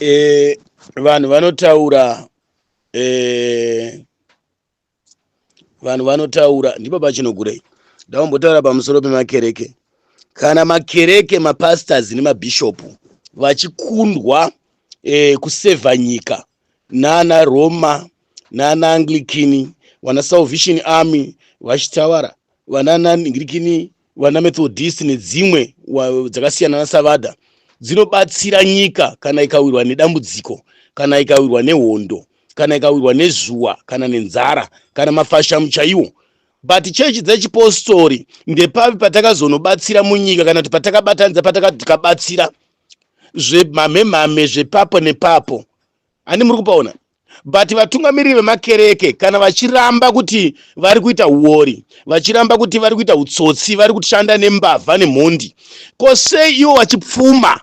eh, vanhu vanotaura eh, vanhu vanotaura ndipo pachinogurei ndaumbotaura pamusoro pemakereke kana makereke mapastors nemabhishopu vachikundwa eh, kusevha nyika nana roma nana anglikini vana salvation army vachitawara vanana anglikini vana methodist nedzimwe dzakasiyana nasavada dzinobatsira nyika kana ikawirwa nedambudziko kana ikawirwa nehondo kana ikawirwa nezuwa kana nenzara kana mafashamu chaiwo but chechi dzechipostori ndepapi patakazonobatsira munyika kana kuti patakabatanidza patakati tikabatsira zvemhamhemhame zvepapo nepapo handi muri kupaona But vatungamiriri vemakereke kana vachiramba kuti vari kuita huori, vachiramba kuti vari kuita utsotsi, vari kushanda nembavha nemhondi, ko sei iwo vachipfuma?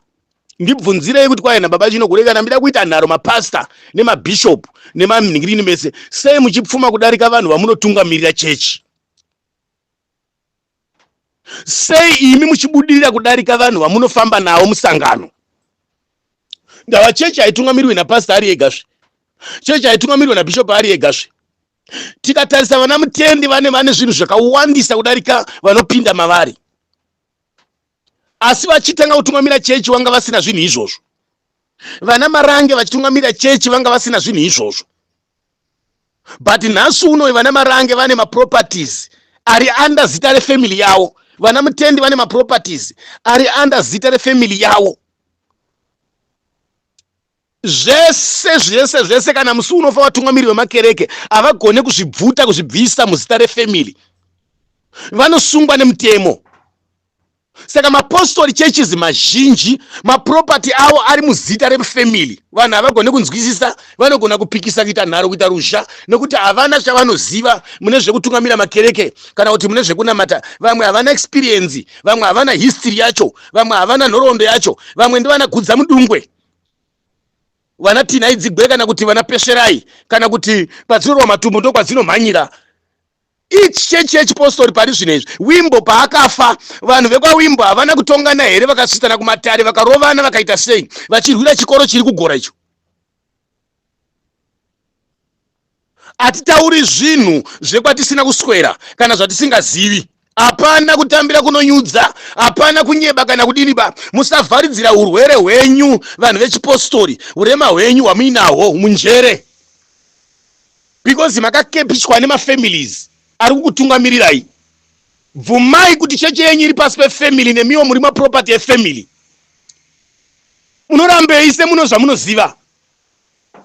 Ndibvunzirei kuti kwaye nababa chino kure kana mida kuita nharo mapastor nemabishop nemanhingirini mese, sei muchipfuma kudarika vanhu vamunotungamirira chechi? sei imi muchibudirira kudarika vanhu vamunofamba navo musangano ndava chechi haitungamirwe napasita ari ega zve chechi haitungamirwe nabishop ari ega zve tikatarisa vana mutendi vane vane zvinhu zvakawandisa kudarika vanopinda mavari asi vachitanga kutungamira chechi vanga vasina zvinhu izvozvo vana marange vachitungamira chechi vanga vasina zvinhu izvozvo but nhasi uno vana marange vane maproperties ari under zita refamily yawo vana mutendi vane maproperties ari under zita refamily yawo zvese zvese zvese kana musi unofa vatungamiri vemakereke havagone kuzvibvuta kuzvibvisa muzita refamily vanosungwa nemutemo Saka mapostori churches mazhinji maproperty awo ari muzita refamily. Vanhu havagone kunzwisisa, vanogona kupikisa kuita nharo kuita ruzha nekuti havana chavanoziva mune zvekutungamira makereke kana kuti mune zvekunamata. Vamwe havana experience, vamwe havana history yacho, vamwe havana nhoroondo yacho, vamwe ndivana gudza mudungwe vana tinhai dzigwe kana kuti vana pesherai kana kuti kwadzinorwa matumbu ndokwadzinomhanyira Each chechi yechipostori pari zvino izvi. Wimbo paakafa, vanhu vekwaWimbo havana kutongana here vakasvitsana kumatare vakarovana vakaita sei vachirwira chikoro chiri kugora icho? Hatitauri zvinhu zvekwatisina kuswera kana zvatisingazivi. Hapana kutambira kunonyudza, hapana kunyeba kana kudini ba. Musavharidzira hurwere hwenyu vanhu vechipostori, hurema hwenyu hwamuinahwo munjere. because makakepishwa nemafamilies ari kukutungamirirai bvumai kuti cheche yenyu iri pasi pefamily nemiwo muri maproperty efamily munorambei semuno zvamunoziva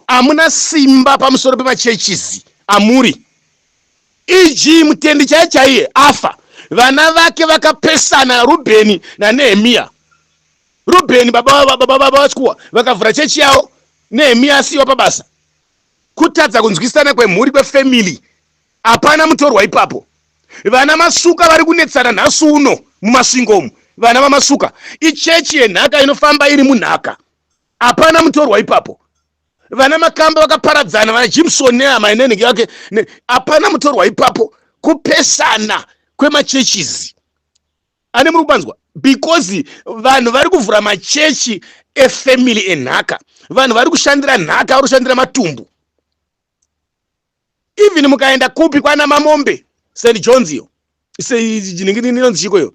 hamuna simba pamusoro pemachechizi amuri eg mutendi chaiye chaiye afa vana vake vakapesana rubheni nanehemiya rubheni baba vachikuwa vakavhura chechi yavo nehemiya asiyiwa pabasa Kutadza kunzwisana kwemhuri kwefamily hapana mutorwa ipapo. Vana Masuka vari kunetsana nhasi uno muMasvingo umu. Vana vaMasuka ichechi yenhaka inofamba iri munhaka. Hapana mutorwa ipapo. Vana Makamba vakaparadzana, vana Jimson nehama inenge yake. Hapana mutorwa ipapo. Kupesana kwemachechizi. ane muri kupanzwa because vanhu vari kuvhura machechi efamily enhaka vanhu vari kushandira nhaka vari kushandira matumbu even mukaenda kupi kwana mamombe st johns iyo inonzi chiko iyo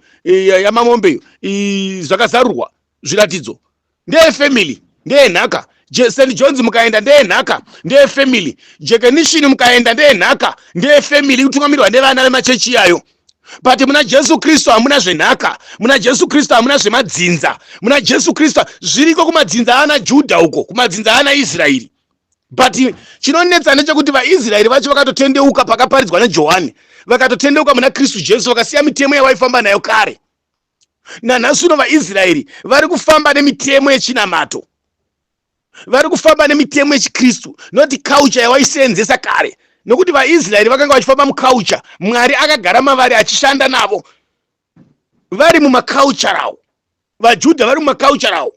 yamamombe iyo zvakazarurwa zviratidzo ndeye family ndeye nhaka st johns mukaenda ndeye nhaka ndeye family jekenishini mukaenda ndeye nhaka ndeye family kutungamirwa nevana vemachechi iyayo but muna jesu kristu hamuna zvenhaka muna jesu kristu hamuna zvemadzinza muna jesu kristu zviriko kumadzinza aana judha uko kumadzinza aana israeri but chinonetsa ndechekuti vaisraeri vacho vakatotendeuka pakaparidzwa nejohani vakatotendeuka muna kristu jesu vakasiya mitemo yavaifamba nayo kare nanhasi uno vaisraeri vari kufamba nemitemo yechinamato vari kufamba nemitemo yechikristu noti culture yawaiseenzesa kare nokuti vaisraeri vakanga vachifamba muculture mwari akagara mavari achishanda navo vari mumaculture awo vajudha vari mumaculture awo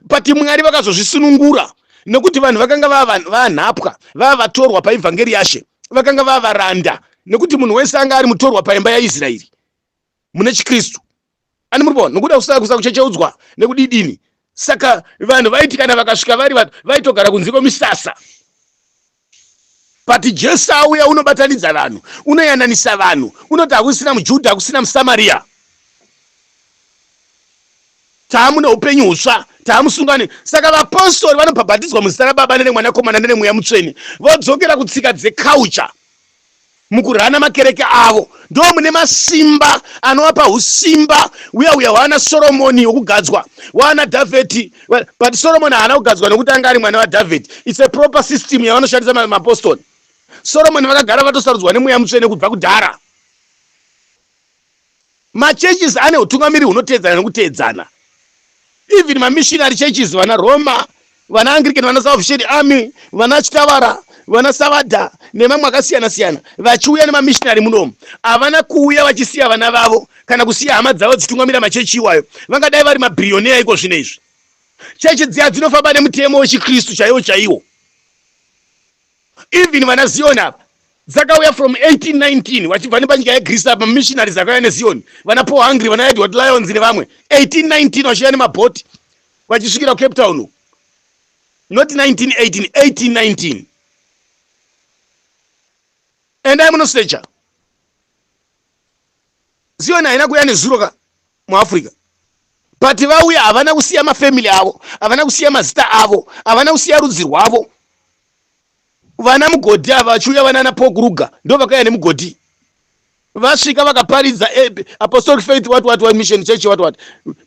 but mwari vakazozvisunungura nokuti vanhu vakanga vavanhapwa vava vatorwa paevhangeri yashe vakanga vava varanda nokuti munhu wese anga ari mutorwa paimba yaisraeri mune chikristu ani muri kuona nokuda kusaka kusaka kuchecheudzwa nekudidini saka vanhu vaiti kana vakasvika vari vatu vaitogara kunze kwemisasa but jesu auya unobatanidza vanhu unoyananisa vanhu unoti hakusina mujudha hakusina musamaria taamune upenyu hutsva taamusungane saka vapostori vanobhabhatidzwa muzita rababa nenemwanakomana nenemweya mutsvene vodzokera kutsika dzekaucha Mukurana makereke avo ndoo mune masimba anovapa husimba uya uya hwaana Soromoni wokugadzwa waana Dhavheti but Soromoni haana kugadzwa nokuti anga ari mwana waDhavheti it's a proper system yavanoshandisa mapostori Soromoni vakagara vatosarudzwa nemweya mutsvene kubva kudhara Machurches ane hutungamiri hunoteedzana nekuteedzana. Even mamissionary churches, vana Roma, vana Anglican, vana Salvation Army, vana Chitavara, vana Savada nemamwe akasiyana siyana vachiuya nemamissionary munomu havana kuuya vachisiya vana vavo kana kusiya hama dzavo dzichitungamira machechi iwayo. Vangadai vari mabhiriyoneya iko zvino izvi. Chechi dziya dzinofamba nemutemo wechiKristu chaiwo chaiwo. even vana zioni apa dzakauya from 1819 vachibva nepanyika yegreece apa mamissionaries akauya nezioni vana paul hungry vana edward lions nevamwe 1819 vachiuya nemabhoti vachisvikira kucape town not 1918 1819 endai munosecha zioni haina kuya nezuro ka muafrica but vauya havana kusiya mafamily avo havana kusiya mazita avo havana kusiya rudzi rwavo vana mugodhi ava vachiuya vanana pokuruga ndo vakauya nemugodhi vasvika vakaparidza eh, apostolic faith what what what mission church what what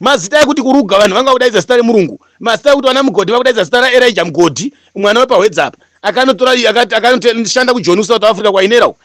mazita ekuti kuruga vanhu vanga kudaidza zita remurungu mazita ekuti vana mugodhi vakudaidza zita raerija mugodhi mwana wepahwedza apa akanotora akanoshanda kujoni kusouth africa kwainerawo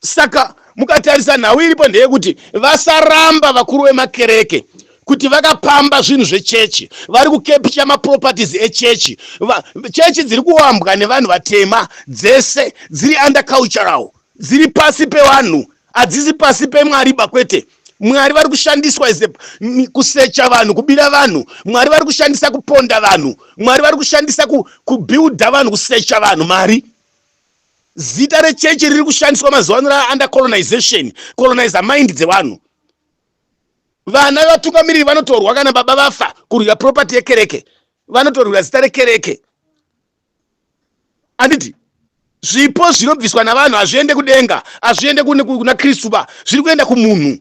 Saka mukatarisa nhau iripo ndeyekuti vasaramba vakuru vemakereke kuti vakapamba zvinhu zvechechi vari kukepicha maproperties echechi chechi dziri kuwambwa nevanhu vatema dzese dziri under cultural dziri pasi pevanhu hadzisi pasi pemwari ba kwete mwari vari kushandiswa is kusecha vanhu kubira vanhu mwari vari kushandisa kuponda vanhu mwari vari kushandisa kubuilda vanhu kusecha vanhu mari Zita rechechi riri kushandiswa mazuva ano ra under colonization, colonizer mind dzevanhu. Vana vatungamiriri vanotorwa kana baba vafa kurwira property yekereke, vanotorwira zita rekereke. Anditi zvipo zvinobviswa navanhu hazviende kudenga, hazviende kuna Kristu ba, zviri kuenda kumunhu.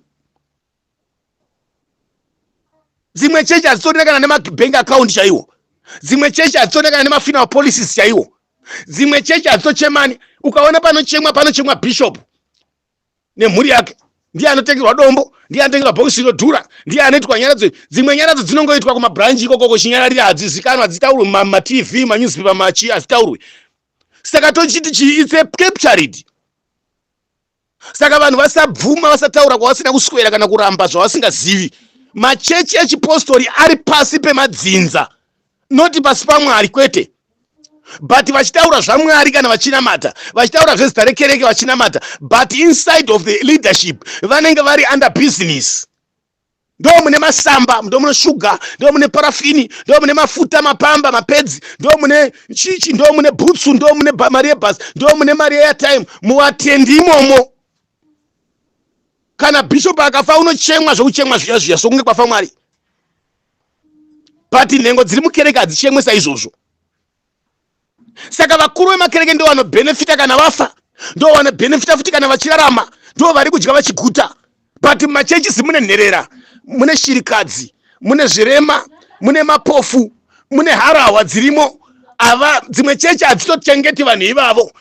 dzimwe chechi hadzitorina kana nemabank account chaiwo dzimwe chechi hadzitorina kana nemafinal policies chaiwo dzimwe chechi hadzitochemani ukaona panochemwa panochemwa bishop nemhuri yake ndiye anotengerwa dombo ndiye anotengerwa bhokisi rinodhura ndiye anoitwa nyaradzo dzimwe nyaradzo dzinongoitwa kumabranji ikoko kochinyararira hadzizikanwa hadzitaurwe mumatv manewspaper machi hazitaurwe saka tochiti chii its a captured saka vanhu vasabvuma vasataura kwavasina kuswera kana kuramba zvavasingazivi machechi echipostori ari pasi pemadzinza noti pasi pamwari kwete but vachitaura zvamwari kana vachinamata vachitaura zvezita rekereke vachinamata but inside of the leadership vanenge vari under business ndoo mune masamba ndoo mune shuga ndoo mune parafini ndoo mune mafuta mapamba mapedzi ndoo mune chichi ndoo mune bhutsu ndoo mune mari yebhasi ndoo mune mari yeatime muvatendi imomo kana bishop akafa unochemwa zvekuchemwa zviya zviya sokunge kwafa mwari but nhengo dziri mukereke hadzichemwe saizvozvo saka vakuru vemakereke ndo vanobhenefita kana vafa ndo vanobhenefita futi kana vachirarama ndo vari kudya vachiguta but mumachechisi mune nherera mune shirikadzi mune zvirema mune mapofu mune harahwa dzirimo ava dzimwe chechi hadzitochengeti vanhu ivavo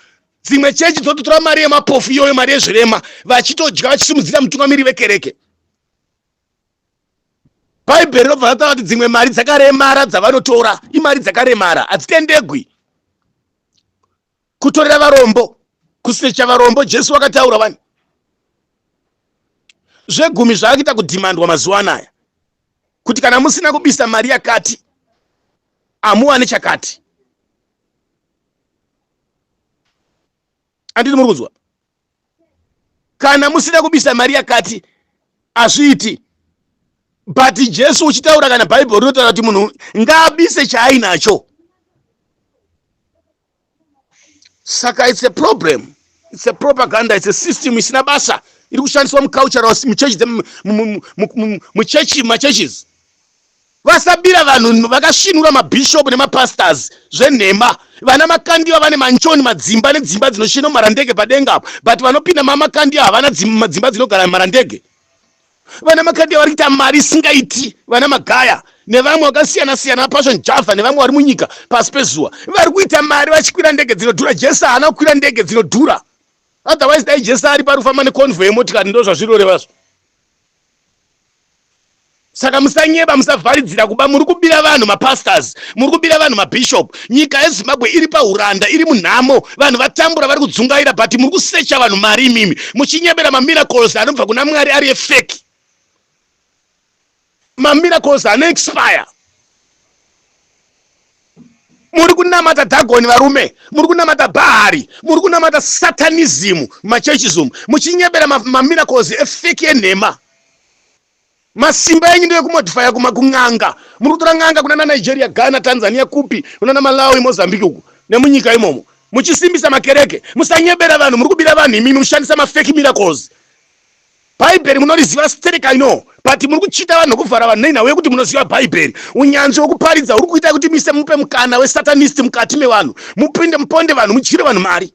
dzimwe chechi dzototora mari yemapofu iyoyo mari yezvirema vachitodya vachisimudzira mutungamiri vekereke bhaibheri robva rataura kuti dzimwe mari dzakaremara dzavanotora imari dzakaremara hadzitendegwi kutorera varombo kusecha varombo jesu wakataura vani zvegumi zvaakuita kudhimandwa mazuva anaya kuti kana musina kubisa mari yakati hamuwane chakati anditi muri kunzwa kana musina kubisa mari yakati hazviiti but jesu uchitaura kana bhaibheri rinotaura kuti munhu ngaabise chaainacho saka it's a problem it's a propaganda it's a system isina basa iri kushandiswa mucultural muchechi muchechi machurches Vasabira vanhu vakasvinura mabishop nemapastors zvenhema. Vana Makandiwa vane manchoni madzimba nedzimba dzinoshinwa marandege padenga apo but vanopinda maMakandiwa havana dzimba dzinogara marandege. Vana Makandiwa vari kuita mari isingaiti. Vana Magaya nevamwe vakasiyana siyana vaPassion Java nevamwe vari munyika pasi pezuva vari kuita mari vachikwira ndege dzinodhura. Jesu haana kukwira ndege dzinodhura. Otherwise dai Jesu ari parufamba neconvoy yemotikari ndozvazvinorevazvo. Saka musanyeba musavharidzira kuba muri kubira vanhu mapastors muri kubira vanhu mabishop nyika yezimbabwe iri pahuranda iri munhamo vanhu vatambura vari kudzungaira but muri kusecha vanhu mari imimi muchinyebera mamiracles anobva kuna mwari ari efeki mamiracles anoexpire muri kunamata dhagoni varume muri kunamata bhaari muri kunamata satanizimu machurches umu muchinyebera mamiracles efeki enhema masimba enyu ndeekumodifaya kuma kun'anga muri kutora n'anga kuna nanigeria ghana tanzania kupi kuna namalawi mozambique uku nemunyika imomo muchisimbisa makereke musanyebera vanhu muri kubira vanhu imimi muchishandisa mafeki miracles Bhaibheri munoriziva sterek I know but muri kuchita vanhu kuvhara vanhu nenhau yekuti munoziva Bhaibheri. Unyanzvi wekuparidza huri kuitai kuti mise mupe mukana wesatanist mukati mevanhu mupinde muponde vanhu mudyire vanhu mari.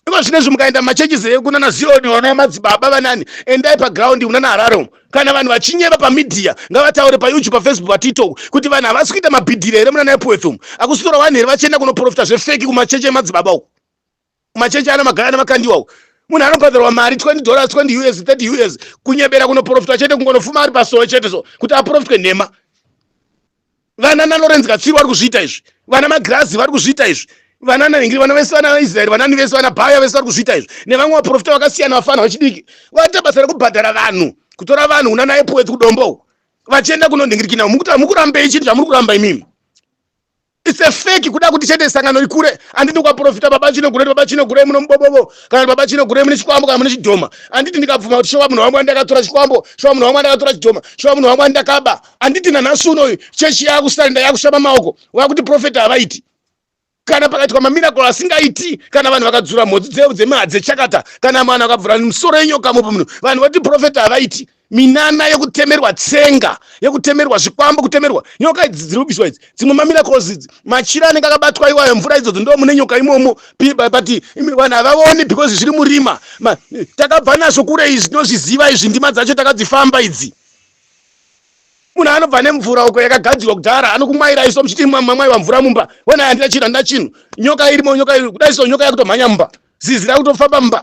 Iko zvinezvi mukaenda mumachurches ekunana Zioni vana madzibaba vanani endai paground kunana Harare umu kana vanhu vachinyeba pamedia ngavataure paYouTube paFacebook paTikTok kuti vanhu havasi kuita mabhidhire here munana Epworth umu akusitora wani here vachienda kunoprofita zvefeki kumachechi emadzibaba uku. machechi ana magaya nemakandiwa uko munhu anobhadharwa mari 20 dollars 20 us 30 us kunyebera kunoprofitwa chete kungonofuma ari pasowe chete so kuti aprofitwe nhema vana nalorenz katsviri vari kuzviita izvi vana magirazi vari kuzviita izvi vana nahingiri vana vese vana vaisraeri vanani vese vana bhaya vese vari kuzviita izvi nevamwe vaprofita vakasiyana vafana vachidiki vaita basa rekubhadhara vanhu kutora vanhu una naye puwedzi kudombo vachienda kunonhingirikina mukuti hamukurambei chinhu chamuri kuramba imimi It's a fake kuda kuti chete sangano rikure anditi kwaprofita baba chino gure baba chino gure muno mubobobo kana baba chino gure mune chikwambo kana mune chidhoma anditi ndikabvuma kuti shewa munhu wangu andakatora chikwambo shewa munhu wangu andakatora chidhoma shewa munhu wangu andakaba anditi nanhasi uno uyu chechi yakusanda yakushama maoko wakuti profeta havaiti kana pakaitwa mamiracle asingaiti kana vanhu vakadzura mhodzi dzemahadze chakata kana mwana akabvura musoro yenyoka mupo muno vanhu vati profeta havaiti minana yekutemerwa tsenga yekutemerwa zvikwambo kutemerwa nyoka idzi dziri kubiswa idzi dzimwe mamiracles idzi machira anenge akabatwa iwayo mvura idzodzo ndo mune nyoka imomo pati vanhu havavoni because zviri murima takabva nazvo kure izvi tinozviziva izvi ndima dzacho takadzifamba idzi munhu anobva nemvura uko yakagadzirwa kudhara anokumwaira iso muchiti mamwaiwa mvura mumba wena handina chinhu handina chinhu nyoka irimo nyoka kudai so nyoka yakutomhanya mumba zizi rakutofamba mumba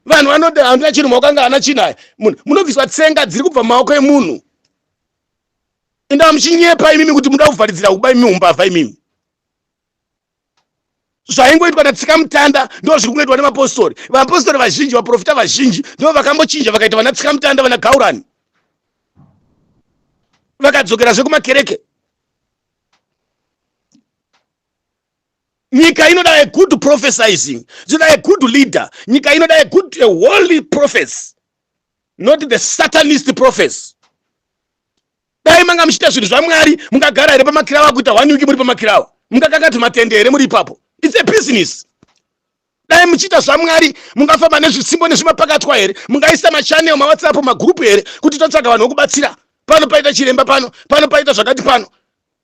vanhu vanoti handina chinhu maoko anga ana chinaya munhu munobviswa tsenga dziri kubva maoko emunhu indaa muchinyepa imimi kuti muda kuvharidzira kuba imimi umbavha imimi zvaingoitwa natsika mutanda ndo zviri kungoitwa nemapostori vapostori vazhinji vaprofita vazhinji ndo vakambochinja vakaita vana tsika mutanda vana gaurani vakadzokera zvekumakereke nyika inoda a good prophesizing zvinoda a good leader nyika inoda a good a holy prophets not the satanist prophets dai manga muchiita zvinhu zvamwari mungagara here pamakirawa kuita one week muri pamakirawa mungakakati matende here muri ipapo its a business dai muchiita zvamwari mungafamba nezvisimbo nezvimapakatwa here mungaisa machanel mawhatsapp magrupu here kuti totsvaga vanhu vokubatsira pano paita chiremba pano pano paita zvakati pano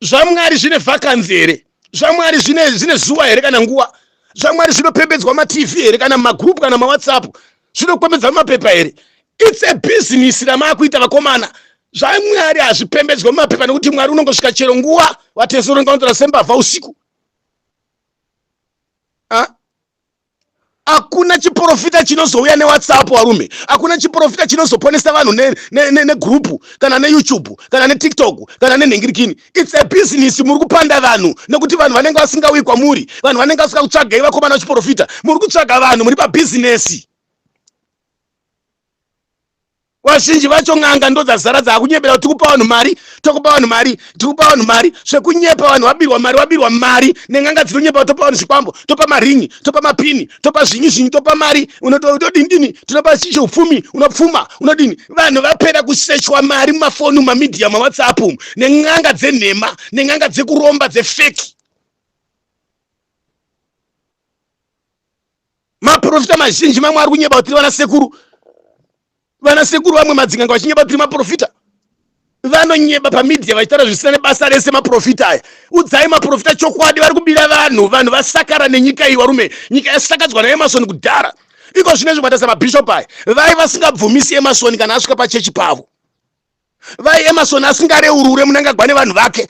zvamwari zvine vakanzi here zvamwari zvine zvine zuwa here kana nguwa zvamwari zvinopembedzwa matv here kana magroup kana mawhatsapp zvinopembedzwa mumapepa here its a business ramaakuita vakomana zvamwari hazvipembedzwe mumapepa nekuti mwari unongosvika chero nguwa vatesoronaonzora sembavha usiku Hakuna chiporofita chinozouya newhatsapp warume hakuna chiporofita chinozoponesa vanhu negroup ne, ne, ne kana neyoutube kana netiktok kana nenhingirikini its a business muri kupanda vanhu nekuti vanhu vanenge vasingauyi kwamuri vanhu vanenge vasika kutsvagai vakomana vachiporofita muri kutsvaga vanhu muri pabhizinesi Vazhinji vacho n'anga ndodzazara dzakunyepera kuti tikupa vanhu mari tokupa vanhu mari tikupa vanhu mari zvekunyepa vanhu vabirwa mari vabirwa mari nen'anga dzinonyepa topa vanhu zvikwambo topa maringi topa mapini topa zvinyi zvinyi topa mari unotodini dini tinopa upfumi unopfuma unodini vanhu vapera kusechwa mari mumafoni mumamidhiya mawhatsapp umu nen'anga dzenhema nen'anga dzekuromba dzefeki maprofita mazhinji mamwe ari kunyeba kutiri vana sekuru vana sekuru vamwe madzin'anga vachinyeba kutiri maprofita vanonyeba pamedia vachitaura zvisina nebasa rese maprofita aya udzai maprofita chokwadi vari kubira vanhu vanhu vasakara nenyika iyi varume nyika yasakadzwa naemasoni kudhara iko zvine zvimataisa mabhishop aya vai vasingabvumisi emasoni kana asvika pachechi pavo vai emasoni asingareurure munangagwa nevanhu vake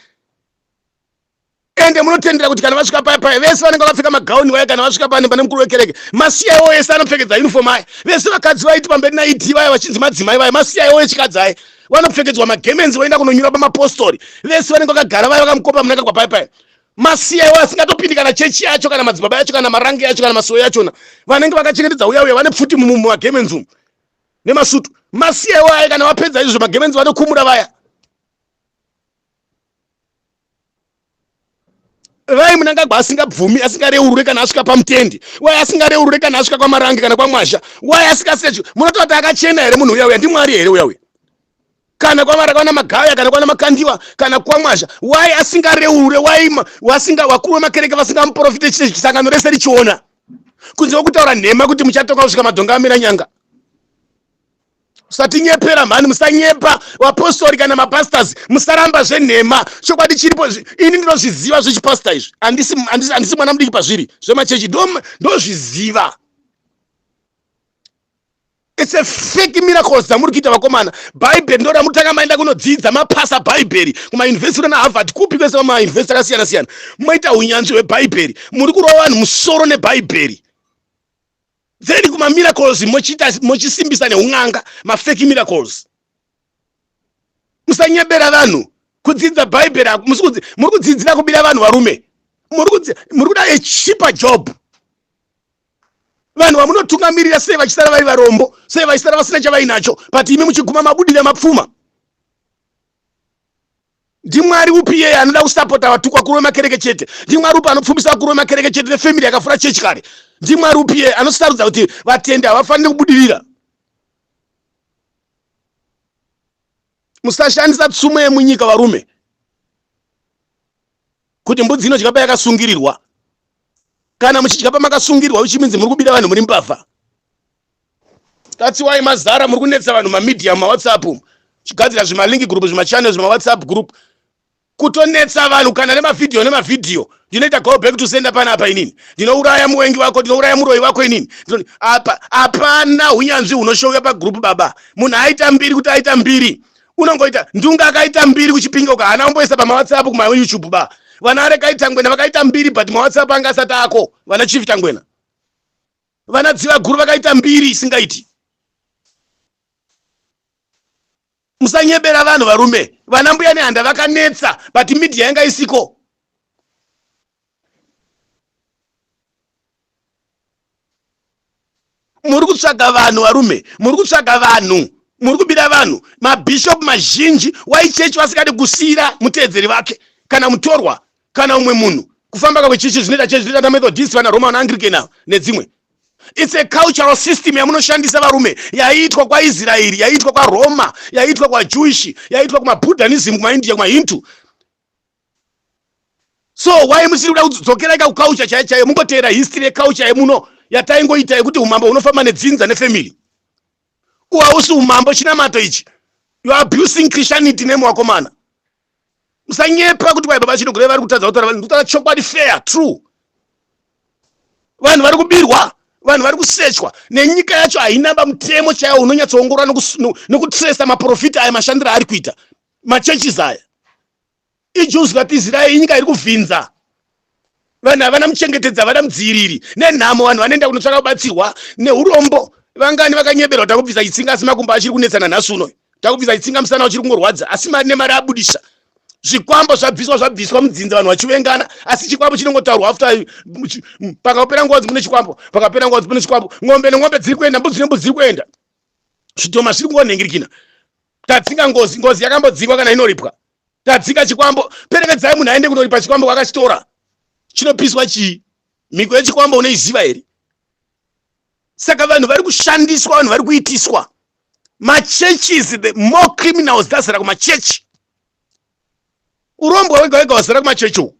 ende munotendera kuti kana vasvika paya paya vese vanenge vakapfeka magauni vaya kana vasvika pane pane mukuru wekereke masiyaiwo ese anopfekedza uniform aya vese vakadzi vaiti pamberi naid vaya vachinzi madzimai vaya masiyaiwo echikadzi aya vanopfekedzwa magemenzi voenda kunonyura pamapostori vese vanenge vakagara vaya vakamukopa munaka kwapaya paya masiyaiwo asingatopindi kana chechi yacho kana madzibaba yacho kana marange yacho kana masowe yachona vanenge vakachengetedza uya uya vane pfuti mumagemenzi umu nemasutu masiyaiwo aya kana vapedza izvo magemenzi vanokumura vaya vai munangagwa asingabvumi asingareurure kana asvika pamutendi wai asingareurure kana asvika kwamarange kana kwamwazha wai asingasechu munotaura kuti akachena here munhu uya uya ndimwari here uya uya kana kwamara kwana magaya kana kwana makandiwa kana kwamwazha wai asingareurure wai wasinga wakuru wemakereke vasingamuprofite sangano rese richiona kunze kwekutaura nhema kuti muchatoka kusvika madhonga amira nyanga usatinyepera mhani musanyepa vapostori kana mapastors musaramba zvenhema chokwadi chiripo ini ndinozviziva zvechipasta izvi handisi mwana mudiki pazviri zvemachechi ndozviziva its a fake miracles dzamuri kuita vakomana bhaibheri ndo ramutanga maenda kunodzidza mapasa bhaibheri kumauniversity na harvard kupi kwese vamauniversity akasiyana siyana moita unyanzvi hwebhaibheri muri kurova vanhu musoro nebhaibheri Bveni kuma miracles mochita mochisimbisa neun'anga mafeki miracles. Musanyebera vanhu kudzidza bhaibheri muri kudzidzira kubira vanhu varume muri kuda a cheaper job vanhu vamunotungamirira sei vachisara vari varombo sei vaisara vasina chavainacho but imi muchiguma mabudira mapfuma ndimwari upi iyeye anoda kusapota vatukwa kurume makereke chete ndimwari upi anopfumisa vakurume makereke chete nefamily yakafura chechi kare ndimwari upi iyeye anosarudza kuti vatendi havafanire kubudirira musashandisa tsumo yemunyika varume kuti mbudzi inodya payakasungirirwa kana muchidya pamakasungirirwa uchiminzi muri kubira vanhu muri mbavha Tatsiwai mazara muri kunetsa vanhu mamedia mumawhatsapp umu chigadzira zvimalink group zvimachannel zvimawhatsapp group kutonetsa vanhu kana nemavhidhiyo nemavhidhiyo ndinoita go back to sender pana apa inini ndinouraya muwengi wako ndinouraya muroyi wako inini apa hapana unyanzvi hunoshouya pagroup baba munhu aita mbiri kuti aita mbiri unongoita ndunga akaita mbiri kuchipinga uka hana umboisa pamawhatsapp kumayoutube ba vana arekaitangwena vakaita mbiri but mawhatsapp anga asati ako vana chief tangwena Vana Dzivaguru vakaita mbiri isingaiti. Musanyebera vanhu varume. Vana mbuya nehanda vakanetsa but media yanga isiko. muri kutsvaga vanhu varume muri kutsvaga vanhu muri kubira vanhu mabhishopu mazhinji waichechi vasingadi kusiyira muteedzeri vake kana mutorwa kana umwe munhu kufamba kakwe chichi zvinoita chechi zvinoita methodist vana roma vana anglican avo nedzimwe its a cultural system yamunoshandisa varume yaiitwa kwaisraeri yaiitwa kwaroma yaiitwa kwajewish yaiitwa kumabudhanism kumaindia kumahindu so why musiri kuda kudzokera ika kuculture chaiyo chaiyo mungoteera history yeculture yemuno yataingoita yekuti umambo hunofamba nedzinza nefamily uhausi umambo chinamato ichi youare abusing christianity name wakomana musanyepa kuti kwai baba chino kureva vari kutadza kutaura vanhu kutaura chokwadi fair true vanhu vari kubirwa vanhu vari kusechwa nenyika yacho haina bamutemo chaiwo unonyatsoongorora nokutresa maprofita aya mashandiro aari kuita machurches aya ijuzi katizira inyika iri kuvhinza vanhu havana muchengetedzi havana mudziiriri nenhamo vanhu vanoenda kunotsvaka kubatsirwa neurombo vangani vakanyeberwa takubvisa chitsinga asi makumbo achiri kunetsana nhasi uno takubvisa chitsinga musana uchiri kungorwadza asi mari nemari abudisa zvikwambo zvabviswa zvabviswa mudzinza vanhu vachivengana asi chikwambo chinongotaurwa after pakapera ngozi mune chikwambo pakapera ngozi mune chikwambo ng'ombe neng'ombe dziri kuenda mbudzi nembudzi dziri kuenda zvitoma zviri kungonhengirikina tadzinga ngozi ngozi yakambodzingwa kana inoripwa tadzinga chikwambo perekedzai munhu aende kunoripa chikwambo kwakachitora chinopiswa chii mhiko yechikwambo unoiziva here saka vanhu vari kushandiswa vanhu vari kuitiswa machurches the more criminals dzazara kumachechi urombwa wega wega wazara kumachechi uku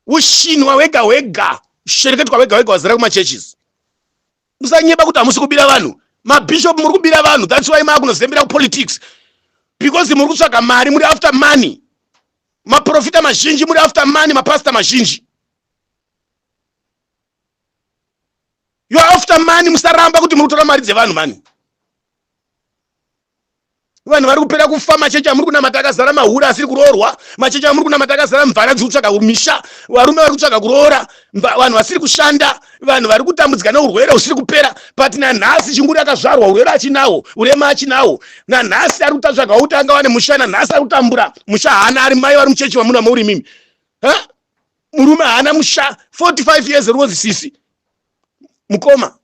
ushinwa wega wega shereketwa wega wega wazara kumachurches musanyeba kuti hamusi kubira vanhu mabishop muri kubira vanhu thats why maakunozembera kupolitics because muri kutsvaga mari muri after money maprofita mazhinji muri after money mapastor mazhinji youare after money musaramba kuti muri kutora mari dzevanhu mani vanhu vari kupera kufa machechi amuri kunamata akazara mahura asiri kuroorwa machechi amuri kunamata akazara mvana dziri kutsvaga misha varume vari kutsvaga kuroora vanhu vasiri kushanda vanhu vari kutambudzika neurwere husiri kupera but nanhasi chinguri akazvarwa urwere achinawo urema achinawo nanhasi ari kutatsvaga kuti anga wane musha nanhasi ari kutambura musha haana ari mai vari muchechi vamuna mauri mimi murume haana musha 45 years rwozisisi mukoma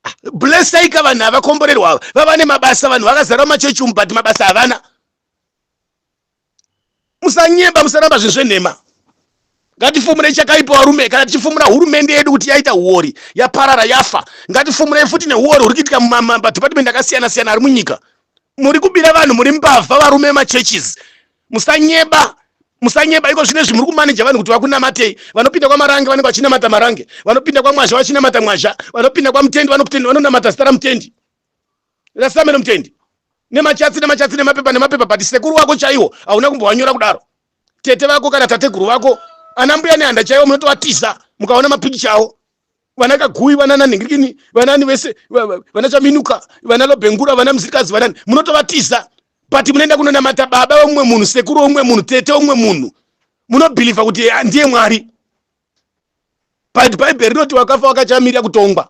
Ah, blessaika vanhu havakomborerwa ava vava nemabasa vanhu vakazara machechi umu but mabasa havana musanyeba musaramba zvinhu zvenhema ngatifumurei chakaipa varume kana tichifumura hurumende yedu kuti yaita huori yaparara yafa ngatifumurei futi nehuori huri kuitika mumadhipatimendi akasiyana siyana ari munyika muri kubira vanhu muri mbavha varume machurches musanyeba musanyeba iko zvine zvimuri kumaneja vanhu kuti vakunamatei vanopinda kwamarange vanenge vachinamata marange vanopinda kwamwazha vachinamata mwazha vanopinda kwamutendi vanokutendi vanonamata zita ramutendi rasameno mutendi nemachatsi nemachatsi nemapepa nemapepa but sekuru wako chaiwo hauna kumbowanyora kudaro tete vako kana tateguru vako ana mbuya nehanda chaiwo munotovatiza mukaona mapikicha awo vana kaguyi vana nanhingirikini vanani vese vana chaminuka vana lobengura vana muzirikazi vanani munotovatiza but munoenda kunonamata baba vemumwe munhu sekuru wemumwe munhu tete wemumwe munhu munobhilivha kuti eh, ndiye mwari but bhaibheri rinoti wakafa wakachamirira kutongwa